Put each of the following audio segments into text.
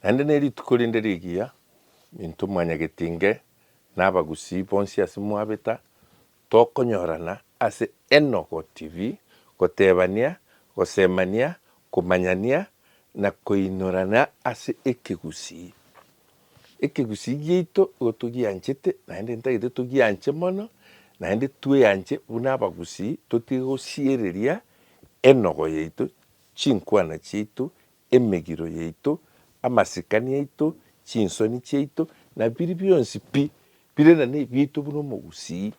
Naende nerituko rinde rigiya, intwe mwanyagetinge nabagusii bonsi ase mwabeta, tokonyorana ase Enogo TV, gotebania, gosemania, komanyania, na koinorana ase ekegusii. Ekegusii giaito igo togianchete, naende ntagete togianche mono, naende tweanche buna abagusii, totige gosiereria enogo yaito, chinkwana chiaito, emegiro yaito, amasikani aito, chinsoni chiaito, na biria bionsi pi bire na nebiaito buna omogusii.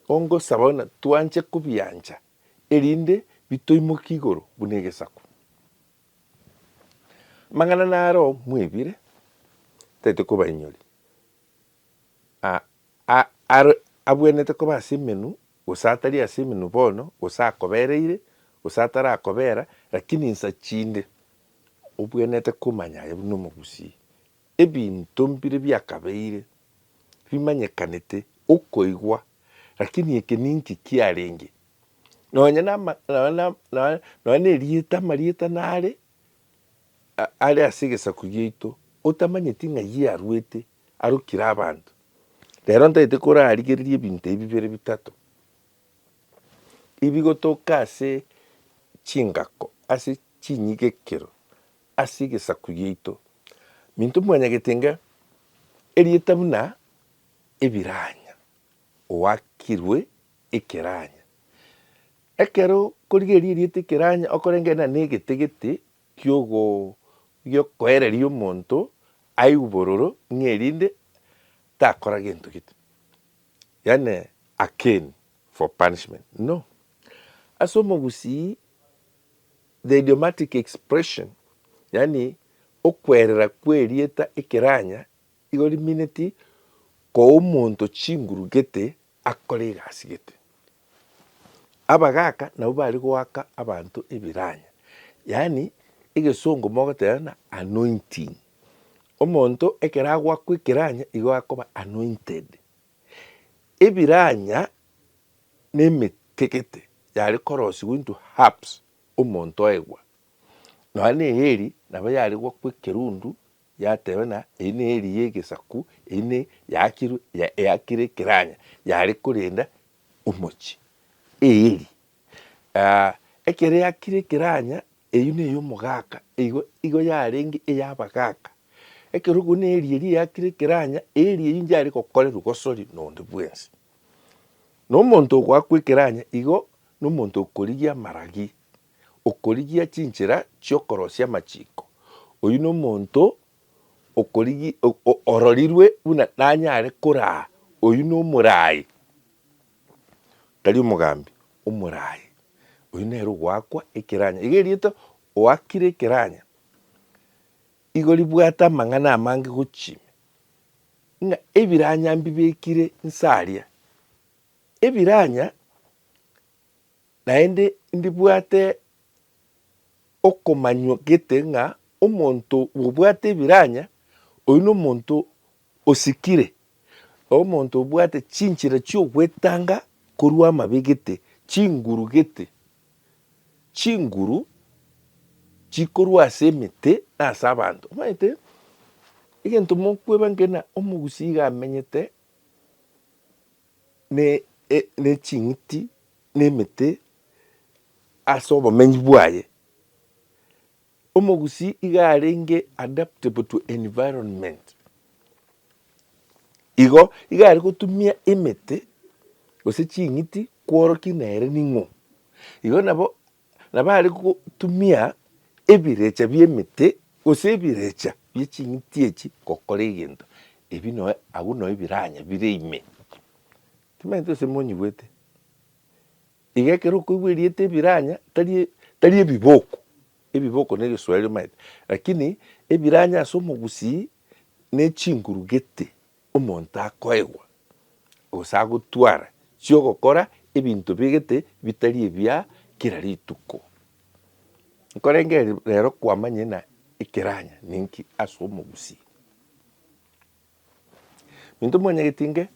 Ongosaba buna twanche kobiancha erinde bitoimokie igoro buna egesaku. Amang'ana naro mwaibire, ntaete kobainyori, a, a, are abwenerete koba ase emenwa Gose atari ase emenwa bono, gose akobereire, gose atarakobera, lakini insa chinde obwenerete komanya aye buna omogusii. Ebinto mbire biakabeire bimanyekanete okoigwa, lakini eke ninki kiarenge? Nonya nama, nonya na, nonya, nonya nerieta, amarieta nare a, are ase egesaku giaito, otamanyeti ng'ai yarwete, arukire abanto. Rero ntagete korarigereria ebinto ebi bibere bitato, ebigotoka ase chingako, ase chinyigekero, ase egesaku giaito. Minto mwanyagete inga erieta buna ebiranya, oakirwe ekeranya. Ekero okorigereria erieta ekeranya okorengena negete gete gi'okoereria omonto aigwe bororo ng'a erinde takora gento gete, yaani a cane for punishment, no. Ase omogusii the idiomatic expression, yaani okwerera kw'erieta ekeranya igo rimineti koa omonto chinguru gete Akore egasi gete. Abagaka nabwo bare goaka abanto ebiranya, yaani egesongo mogoteba buna anointing. Omonto ekero agoakwa ekeranya igo akoba anointed. Ebiranya na emetegete yare korosigwa into herbs omonto oegwa. Nonya na eeri nabo yare goakwa ekerundu Yateeba na eyio neri y'egesaku, eyio ne yaakirwe, ya eakire ekeranya, yare korenda omochie. Eeri, ah, ekero eakire ekeranya, eyio ne y'omogaka, eigo, igo yarenge ey'abagaka. Ekero okwo neri eria eakire ekeranya, eeri eyio nchiare gokorerwa gosori nonde bwensi. Na omonto ogoakwa ekeranya igo, na omonto okorigia amaragi. okorigia chinchera chi'okorosia amachiko, oyio nomonto okorigi, o, ororirwe buna nanyare koraa, oyio nomoraai, tari omogambi, omoraai, oyio nere ogoakwa ekeranya. Iga erieta oakire ekeranya, igo ribwate amang'ana amange gochia ime, ng'a ebiranya mbibekire nsaria, ebiranya. Naende ndibwate okomanywa gete ng'a omonto bwobwate ebiranya, oyio nomonto osikire, omonto obwate chinchera chi'ogwetanga korwa amabe gete, chinguru gete, chinguru chikorwa ase emete na ase abanto. Omanyete egento mokweba nge ng'a omogusii iga amenyete. ne ching'iti, na emete ase obomenyi bwaye. Omogusii iga arenge adaptable to environment, igo iga are gotumia emete gose ching'iti kworokia nere ning'o. Igo nabo Na bare gotumia ebirecha bi'emete, gose ebirecha bie ching'iti echi gokora egento, ebi noe agwo noe biranya bire ime. Timanyete gose monyigwete? Iga ekero okoigwa erieta ebiranya tari e tari ebiboko, ebiboko ne egeswaeri omanyete, rakini ebiranya ase omogusii ne chinguru gete. Omonto akoegwa, gose agotwara chi'ogokora ebinto obegete bitari ebia kera rituko. Nkorenge rero kwamanye na ekeranya ninki ase omogusii? Minto mwanyagetie inge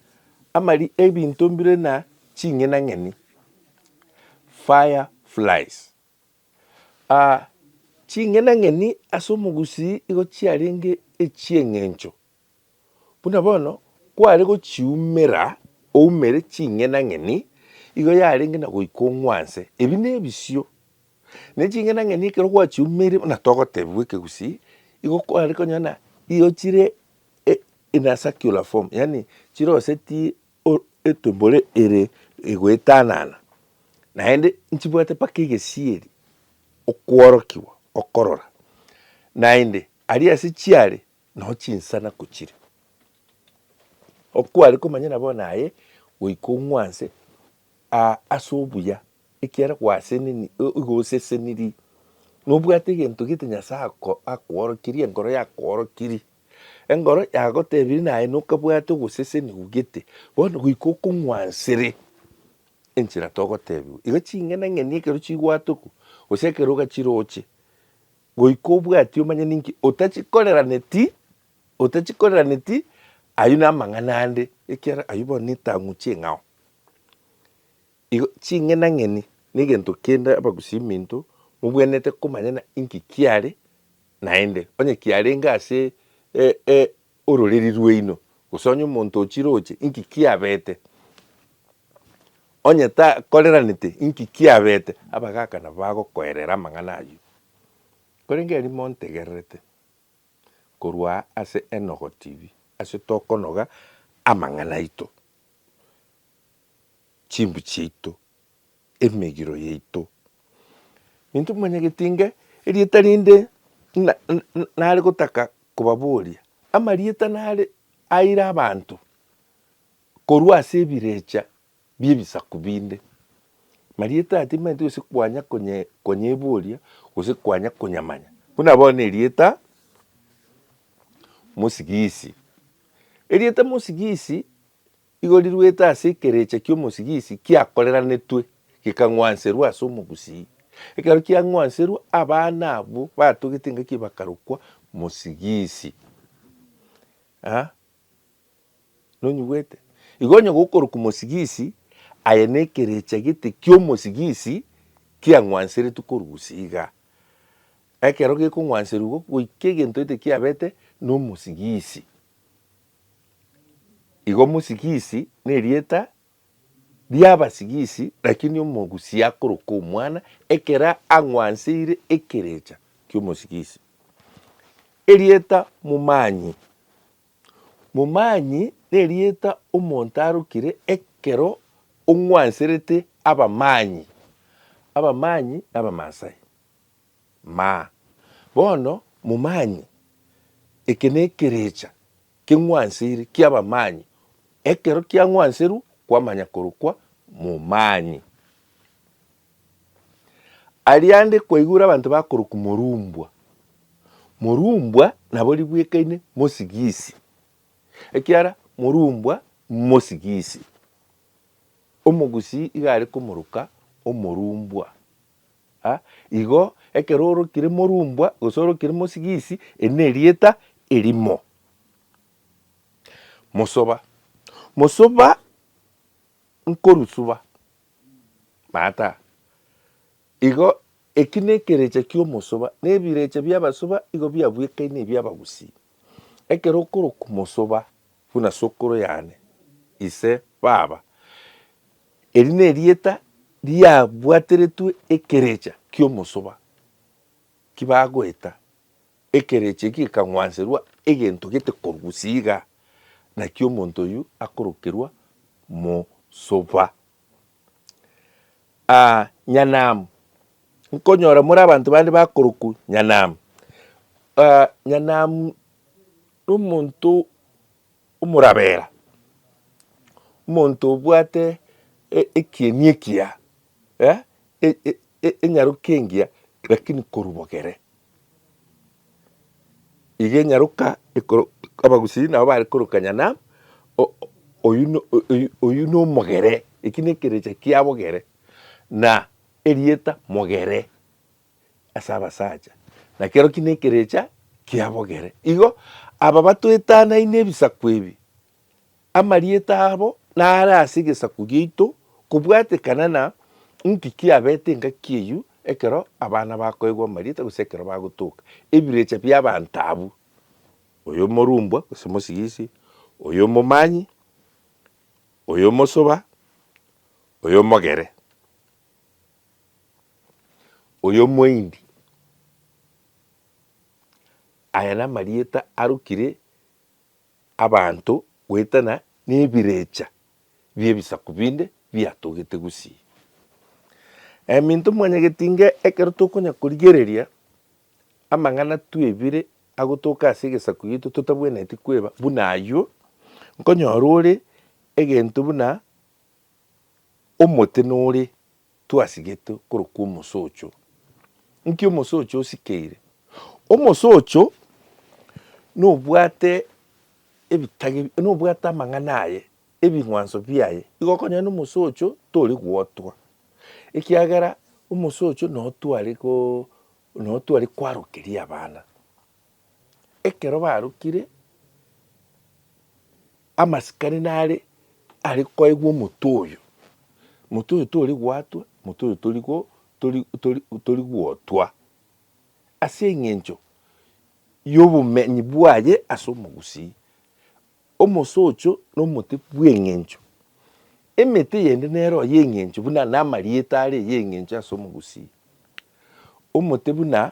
amari ebinto mbire na ching'ina ng'eni, fire flies. Ching'ina ng'eni ase omogusii igo chiarenge echi'eng'encho. Buna bono kware gochiumera oumere ching'enang'eni, igo yarenge na goika ong'wanse. Ebi nebisio, ne ching'enang'eni ekero gwachiumeire buna togotebiwa ekegusii, igo kware konyora na igo chire e- in a circular form, yaani chirosetie o- etumbore ere egoetanana, naende nchibwate mpaka egesieri okworokiwa okorora. Naende aria ase chiare Nonya chinsana kochire okware komanyana bono aye goika ong'wanse aa ase obuya ekiagera gwaseneni igo oseseniri nobwate egento gete Nyasae ako akoorokirie enkoro yakoorokirie enkoro yagotebirie naye nokabwate ogosesenigwa gete bono goika okong'wansere enchera togotebiwa igo ching'enang'eni ekero chigwatoku gose ekero ogachiroche Goika obwati omanye ninki otachikoreranieti, otachikoreranieti, ayio namang'ana ande, ekiagera ayio bono netang'u ching'ao. Igo ching'enang'eni negento kende abagusi minto mobwenerete komanyana inki kiare naende, onye kiarenge ase Ororeri rwaino, gose onye omonto o chiroche, inki kiabete? Onye takoreranete, inki kiabete? Abagaaka nabo bagokoerera amang'ana ayio. Korende erio montegererete korwa aa ase Enogo TV, ase tokonoga amang'ana aito, chimbu chiaito. emegiro yaito. Intwe manya getinge erieta rinde nare gotaka kobaboria, amarieta nare aire abanto korwa ase ebirecha bi'ebisaku binde. Marieta aya timanyete gose kwanya konyeboria gose kwanya konyamanya. Buna bono erieta mosigisi, erieta mosigisi. Igo riruete ase ekerecha ki'omosigisi kiakoreranetwe, gekang'wanserwa ase omogusii. Ekero kiang'wanserwa, abana abwo batogete engaki bakarokwa mosigisi. Aa, nonyigwete? Igo onye gokorokwa mosigisi, aye nekerecha gete ki'omosigisi kiang'wanseretwe korwa gusii igaa. Ekero gekong'wanserwa igo, goika egento gete kiabete nomosigisi. Igo mosigisi nerieta riabasigisi, lakini omogusi akoroka omwana ekero ang'wanseire ekerecha ki'omosigisi. Erieta momanyi, momanyi nerieta omonto arokire ekero ong'wanserete abamanyi, abamanyi na abamaasai. Ma, bono momanye, eke nekerecha keng'wansiri ki'abamanyi, ekero kiang'wanserwa kwamanya korokwa momanyi. Aria ande kwaigure abanto bakorokwa morumbwa, morumbwa nabo ribwekaine mosigisi, ekiara morumbwa mosigisi, omogusii iga are komoroka omorumbwa. a igo, ekero orokire morumbwa gose orokire mosigisi, eri nerieta erimo. Mosoba, mosoba nkorusuba, maata. Igo eki nekerecha ki'omosoba, na ebirecha bi'abasoba igo biabwekaine ebi'abagusii. Ekero okorokwa mosoba buna sokoro yane, ise, baba, Eri nerieta riabwateretwe ekerecha ki'omosoba, ki bagoeta, ekerecha eki gekang'wanserwa egento gete korwa siiga, naki omonto oyio akorokerwa mosoba. Aa nyanam, nkonyora more abanto bande bakorokwa nyanam, aa nyanam nomonto. Omorabera, omonto obwate ekieni ekiya, enyaroka engiya lakini korwa bogere. Igo enyaroka abagusii nabo bare korokanya ng'a oyio nomogere, ekio nekerecha kia bogere, na erieta mogere. ase abasacha, na kero ki nekerecha kiabogere. Igo aba batwetanaine ebisaku ebi, amarieta abo nare ase egesaku giaito, kobwatekana na inki kiabete engaki eyio ekero abana bakoegwa amarieta gose ekero bagotoka ebirecha bi'abanto abwo, oyo omorumbwa gose mosigisi, oyo omomanyi, oyo omosoba, oyo omogere. Oyo omoindi, aya namarieta arokire abanto goetana nebirecha biebisaku binde biatogete gusii. Eminto mwanyageti inga ekero tokonya korigereria amang'ana twebire agotoka ase egesaku gito totabwenereti kweba buna ayio, nkonyora ore egento buna. Omote nore twasigete korokwa omosocho. Nki omosocho osikeire? Omosocho nobwate ebitage, nobwate amang'ana aye, ebing'wanso biaye. Igo okonyora na omosocho tori gwotwa, ekiagera omosocho notware ko, notware kwarokeria abana. Ekero barokire, amasikani nare are koegwa omote oyo, mote oyo tori gwatwa, mote oyo tori go, tori tori tori gwotwa, ase eng'encho y'obomenyi bwaye ase omogusii. Omosocho na omote bw'eng'encho, emete eyende nero y'eng'encho buna namarieta are y'eng'encho ase omogusii, omote buna.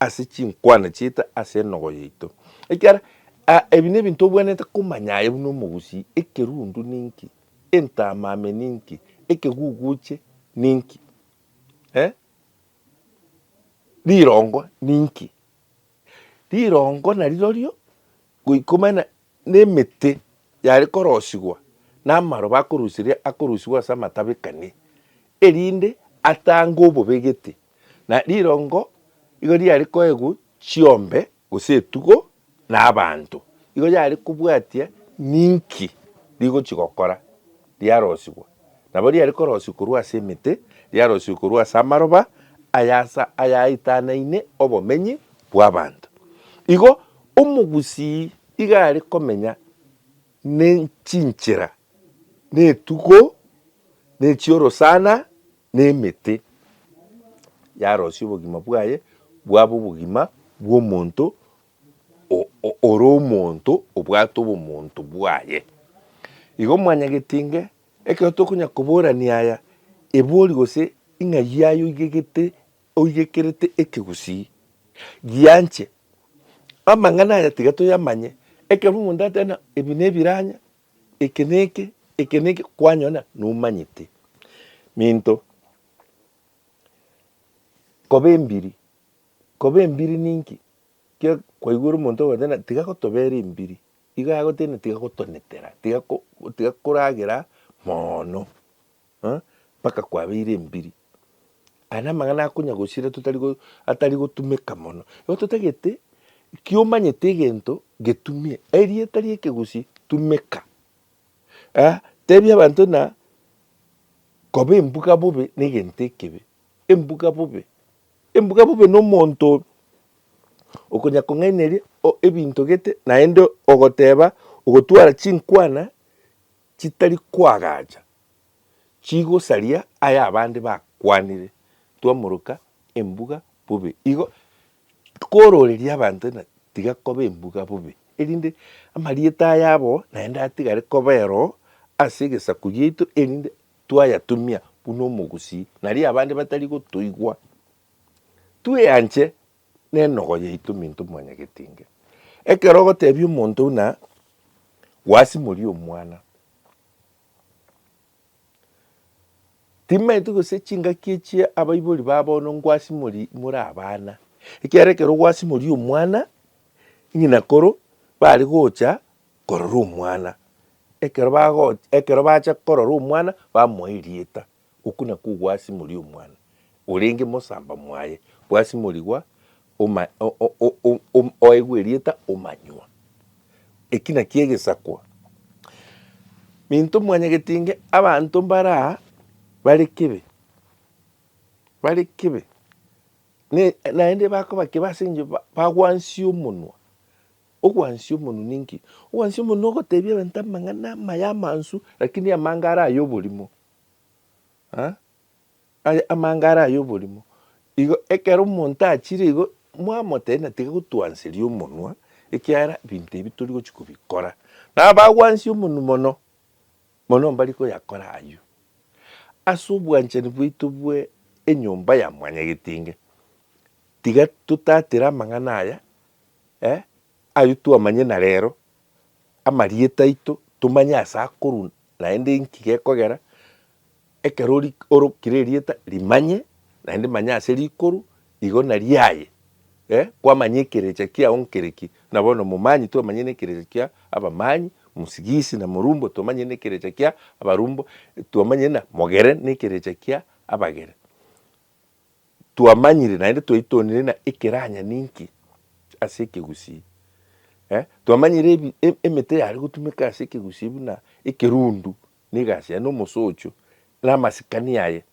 ase chinkwana chiaito ase enogo yaito. Ekiagera ebi nebinto obwenerete komanya aye buna omogusii, ekerundu ninki? Entamame ninki? Ekeguguche ninki? Eh? Rirongo ninki? Rirongo narirorio goika omanye Nemete yare korosigwa, na amaroba akorusiria akorusigwa ase amatabekani, erinde atange obobegete, na rirongo igo riare koegwa chiombe gose etugo na abanto, igo yare kobwatia ninki rigochi gokora. riarosigwa, nabo riare korosigwa korwa ase emete, riarosigwe korwa ase amaroba ay'aasa ayaaitanaine obomenyi bw'abanto. Igo omogusii iga are komenya ne chinchera, na etugo, na echiorosana, na emete, yarosia obogima bwaye bwabe obogima bw'omonto ore omonto obwate obomonto bwaye. Igo mwanyagete inga ekero tokonya koborania aya, ebori gose ing'ai yaye oigegete oigekerete ekegusii, gianche. Amang'ana aya tiga toyamanye, ekero omonto ateba ng'a ebi ne ebiranya, eke ne eke, eke ne eke, kwanyora ng'a nomanyete. Minto, koba embiri Koba embiri ninki? Kira kwaigure omonto ogoteba tiga gotobera embiri, igo agotebia tiga gotonetera, tiga tiga koragera moono eh mpaka kwabeire embiri. Aya namang'ana akonya gosira totari go atari gotumeka mono. Igo totagete ekio omanyete egento getumie, erieta ria ekegusii tumeka. Aya tebia abanto ng'a koba embuga bobe na egento ekebe, embuga bobe. Embuga bobe nomonto okonyakong'aineria ebinto gete naende ogoteba ogotwara chinkwana chitari koagacha chigosaria ayabande bakwanire. Twamoroka embuga bobe igo kororeria abanto ng'a tiga koba embuga bobe erinde amarieta ayabo naende atigare kobero ase egesaku giaito erinde Twayatumia buna omogusii, nario abande batari gotoigwa. Tweanche nenogo yaito minto mwanyagetinge. Ekero ogotebia omonto buna gwasimoria omwana, timaeti gose chingaki echia abaibori ba bono ngwasimori more abana, ekiagera ekero gwasimoria omwana, ng'ina koro bare gocha. korora omwana. Ekero bagocha, ekero bacha korora omwana, bamoa erieta, okwo nakwo ogwasimori omwana, orenge mosamba mwaye, gwasimorigwa oma o- o- o- o- om oegwa erieta omanywa. Eki nakio egesakwa. Minto mwanyagetinge abanto mbaraa bare kebe, bare kebe, ne naende bakoba kebe asengio ba bagwansie omonwa. Ogwansia omonwa ninki? Ogwansia omonwa nogotebia abanto amang'ana amaya amansu, lakini amange are ay'oborimo. Aa, aye amange are ay'oborimo. Igo ekero omonto achire igo, mwamotebia ng'a tiga gotwanseria omonwa, ekiagera ebinto ebi tori gochia kobikora. Na abagwansia omonwa mono, mono mbari koyakora ayio. Ase obwanchani bwaito bwe enyomba ya mwanyagetinge, tiga totatera amang'ana aya. Eh, ayio twamanye na rero amarieta aito tomanye ase akorwa naende inki gekogera, ekero ori orokire erieta rimanye naende manya ase rikorwa igo nariaye eh, kwamanya ekerecha kiago nkere ki. Buna bono momanyi twamanye na ekerecha kia abamanyi, mosigisi na morumbo twamanye na ekerecha kia abarumbo, twamanye na mogere na ekerecha kia abagere. twamanyire naende twaitonire ng'a ekeranya ninki ase ekegusii. Eh, twamanyire ebi emete yare gotumeka ase ekegusii buna ekerundu, na egasi yaye, na omosocho, na amasikani aye.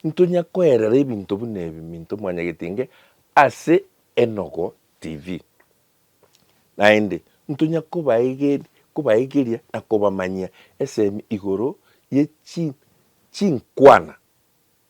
Ntonya koerera ebinto buna ebi minto mwanyagetinge ase Enogo TV. Naende ntonya kobaegeri, kobaegeria na kobamanyia esemi igoro ye chi, chinkwana